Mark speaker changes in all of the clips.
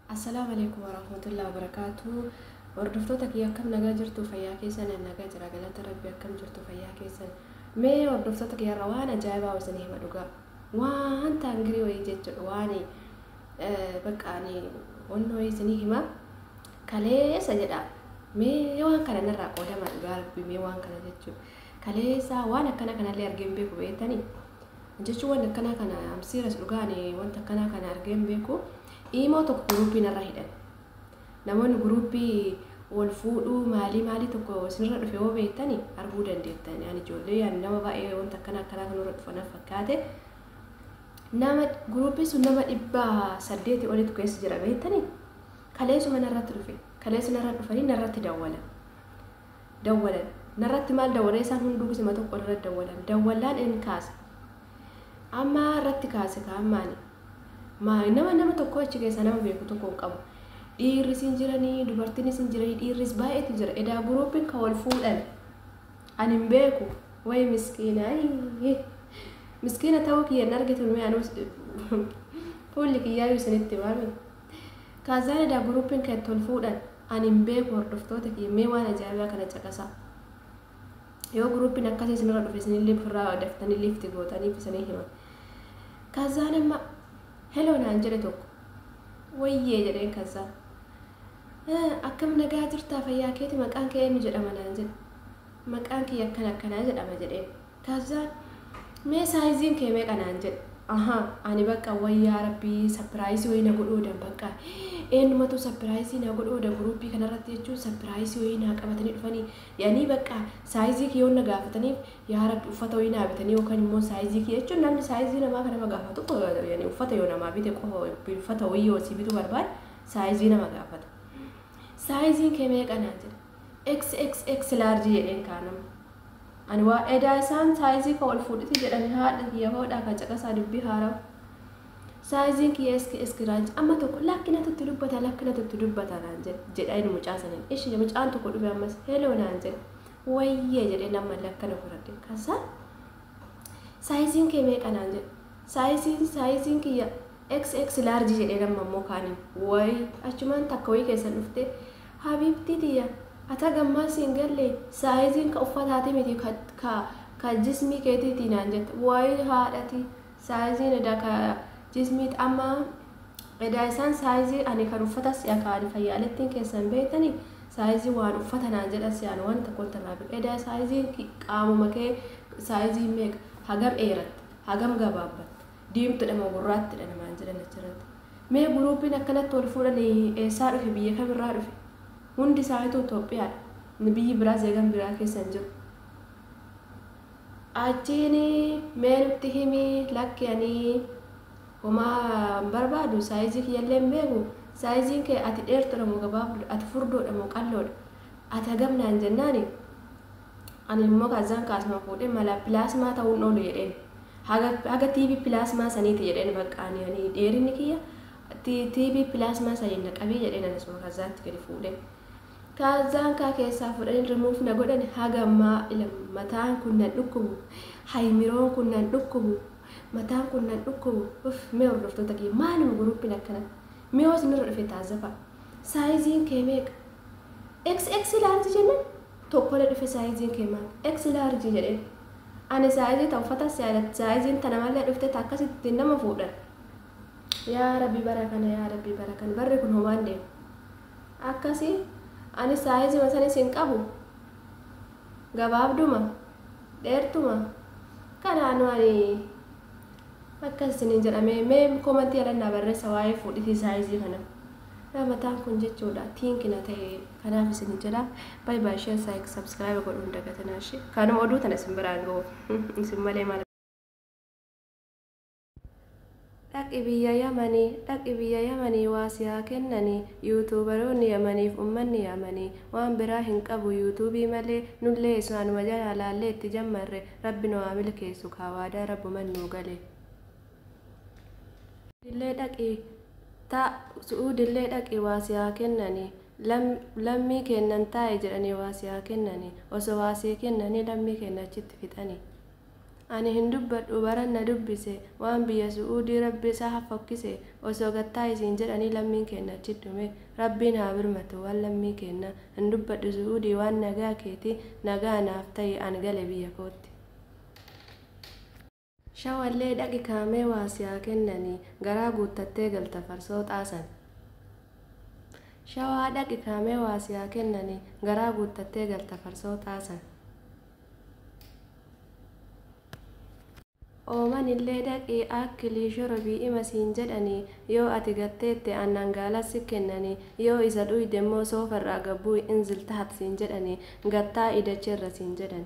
Speaker 1: Assalaamu alaikum warahmatullahi wabarakatuh. Hordoftoota kiyya akkam nagaa jirtu fayyaa keessan nagaa jira galata rabbi akkam jirtu fayyaa keessan. Mee hordoftoota kiyya irraa waan ajaa'ibaa isin hima dhugaa. Waan taangirii wayii jechuudha waan bakka ani onnoo wayii isin hima kaleessa jedha. Mee waan kana narraa qoodama dhugaa rabbi mee waan kana jechuudha. Kaleessa waan akkana kanallee argeen beeku beektanii. Jechuun wanti akkanaa kana am serious dhugaa ani wanta akkanaa kana argee hin beeku. Iimoo tokko guruuppii narra hidhan. Namoonni guruuppii wal fuudhuu maalii maalii tokko isinirra dhufe yoo beektani arguu dandeettani. Ani ijoollee ani nama baay'ee wanta akkanaa akkanaa kanarra dhufa na fakkaate. Nama guruuppii sun nama dhibba saddeeti olitu keessa jira beektani. Kaleessuma narratti dhufe. Kaleessa narra dhufanii narratti dawwalan. dawwalan. Narratti maal dawwalan? Isaan hunduu gisema tokko narratti dawwalan. Dawwalaan in kaase. Amma irratti kaase kaa amma ani. Maali nama nama tokko achi keessaa nama beeku tokko hin qabu. Dhiirris hin jiranii, dubartiinis hin jiranii, dhiirris baay'eetu jira. Edaa guruupiin kan wal fuudhan ani hin beeku. Wayi miskiina ayii. Miskiina ta'uu kiyya hin argitu mee anuu fuulli kiyyaa isinitti waami. Kaazaalee da Guruupiin keetti ol fuudhan ani hin beeku hordoftoota kiyya mee waan ajaa'ibaa kana caqasaa. Yoo guruupiin akkasii isinirra dhufe isinillee ofirraa daftanii liifti gootaniif isanii hima. Kaazaaleen ma heloo naan jedhe tokko. Wayyee jedheen kazzaa. Akkam nagaa jirtaa fayyaa keeti maqaan kee eenyu jedhama naan jedhe. Maqaan kiyya akkana akkanaa jedhama jedheen. Kazzaan Mee saayiziin kee meeqa naan jedhe. Ahaa ani baqqa way yaa rabbii sapiraayisii wayii na godhuu odan baqqa eennumatuu sapiraayisii naa godhuu oda guruuppii kanarratti jechuun sapiraayisii wayii naa qabatanii dhufanii yanii baqqa saayizii kee yoon na gaafataniif yaa rabbi uffata wayii naa bitanii yookaan immoo saayizii kee jechuun namni saayizii namaa kan nama gaafatu yani uffata yoo namaa bite qofa uffata wayii yoo si bituu barbaade saayizii nama gaafata saayiziin kee meeqa naan jedhe xxx large jedheen kaa nama Ani waa edaa isaan saayizii koo ol fuudhiti jedhani haadha kiyya hoodhaa kaa caqasaa dubbii haarawa saayiziin kiyya eski eski raanji amma tokko lakki natu itti dubbata lakki natu itti dubbata naan jedhe jedha inni mucaa saniin ishi mucaan tokko dhufe ammas heloo naan jedhe wayyee jedhee nammallee akkana godhadhe kasa saayiziin kee meeqa naan jedhe saayiziin saayiziin kiyya xx large jedhee namma immoo kaaniin wayi achumaan takka wayii keessan dhuftee Habibtii tiyya ati haga ammaa si hin galle saayiziin ka uffataati miti ka ka ka jismii keetiiti naan jette waayii haadhati saayiziin edaa ka jismiit amma edaa isaan saayizii ani kan uffata si'a ka ani fayyaalettiin keessa hin beektani saayizii waan uffata naan jedha si'aan waan tokko hin tarraabin edaa saayiziin qaamuma kee saayizii meeqa hagam dheeratte hagam gabaabbatte Diimtudha moo gurraattidha namaan jedhan achirratti. Mee guruupiin akkanatti wal fuudhan eessaa dhufe biyya kamirraa dhufe? Hundi isaanituu Itoophiyaadha. Biyyi biraa zeegan biraa keessa hin jiru. Achiin mee nutti himi lakki ani homaa hin barbaadu saayizii kiyyallee hin beeku saayiziin kee ati dheertudha moo gabaabdudha ati furdoodha moo qalloodha ati hagam naan jennaani Ani immoo kazzaan kaasuma fuudhee mala pilaasmaa ta'uu hin oolu jedheen. Haga, haga TV pilaasmaa saniiti jedheen bakka ani, ani dheerinni kiyya ti- TV pilaasmaa saniin na qabii jedheen ani suma kazzaatti gadi fuudhee. Kazzaan kaa keessaa fuudhanii remove na godhani haga ammaa ila mataan kun nan dhukkubu, haymiroon kun nan dhukkubu, mataan kun nan dhukkubu. Uff mee hordoftoota kiyya maaluma guruuppiin akkana? Miyoo isinirra dhufe taazzafa. Saayiziin kee meeqa? XX large jennan tokkole dhufe saizin ke mal. X large jedhe Ani saizi ta uffata sialati saizin tana male dhufte ta akkasiti ittin nama fuudhan yaa rabbi bara kana yaa rabbi bara kana barri kun homaan deemu akkasi Ani saizima sanis hin qabu gabaabduma dheertuma kanaanu ani akkas isinin jedhame mee komantii ala naa barreessa waa'ee fuudhitii saizii kana Yaa mataan kun jechuudha think na tahe kanaaf isin jedha bye bye share like subscribe godhuun dagatinaa ishee kaanuma oduu tana isin biraan ga'u isin malee maal dhaqi biyya yamanii dhaqi biyya yamanii waa si haa kennanii yuutuubaroonni yamaniif ummanni yamanii waan biraa hin qabu yuutuubii malee nullee isaanuma jalaa laallee itti jammarre rabbi nu haa milkeessu kaa waadaa rabbuman nuu gale. Su'uudillee dhaqi ta, Su'uudillee dhaqi waa si haa kennani, lam, lammii keennan taa'i jedhanii waa si haa kennani, osoo waa sii kennanii lammii keenna achitti fixani. Ani hin dubbadhu baran na dubbise waan biyya Su'uudii Rabbi isa ha fokkise, osoo gad taa'i siin jedhanii lammiin keenna achitti dhume. Rabbiin haa birmatu waan lammii keenna. Hin dubbadhu Su'uudii waan nagaa keeti, nagaa naaf ta'i an gale biyya kootti. Shawallee dhaqi kaa mee waa si haa kennani garaa guuttattee galta farsooxaa san. Shawaa dhaqi kaa mee waa si haa kennani garaa guuttattee galta farsooxaa san. Oomanillee dhaqi akkli shorobi ima siin jedhani yoo ati gad teette aannan gaalas si kennani yoo isa dhuydemmoo soofarraa gad bu'i inzil taht siin jedhani gad taa'i dacheerra siin jedhani.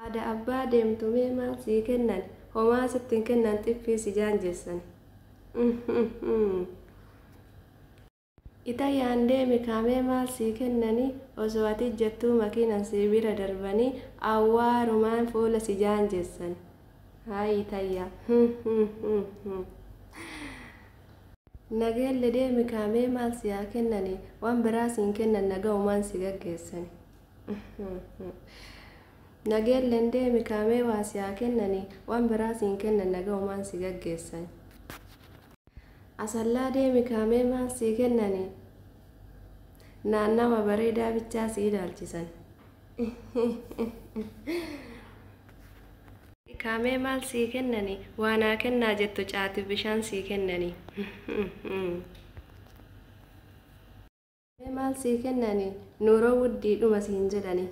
Speaker 1: Haadha abbaa deemtu mee maal sii kennan homaa sitti hin kennan xiffii si jaanjeessani Uumm. Itayaan deemi kaa mee maal sii kennani osoo ati ijjattuu makiinan sii bira darbani awwaarumaan fuula si jaanjeessani Hayi itayyaa Uumm. Nageelle deemi kaa mee maal si haa kennani waan biraa siin kennan nagawumaan si gaggeessani. Nageelleen deemi kaa mee waa si haa kennani waan biraa siin kennan nagahumaan si gaggeessan. Asallaa deemi kaa mee maal sii kennani naannawa bareedaa bichaa si ilaalchisan. Kaa mee maal sii kennani waa naa kennaa jettu caatiif bishaan sii kennani. Mee maal sii kennani nuuroo wuddii dhuma siin jedhani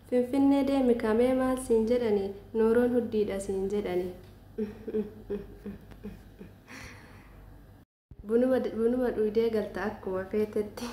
Speaker 1: Finfinnee deemi kaa mee maal siin jedhani nuuroon huddiidha siin jedhani Bunuma bunuma dhuydee galta akkuma feetetti.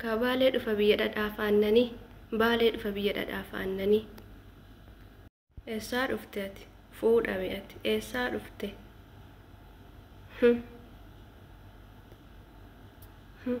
Speaker 1: Akaa baalee dhufa biyya dhadhaaf aannanii baalee dhufa biyya dhadhaaf aannanii. Eessaa dhufte ati? Fuudha mi ati? Eessaa dhufte? Hum. Hum.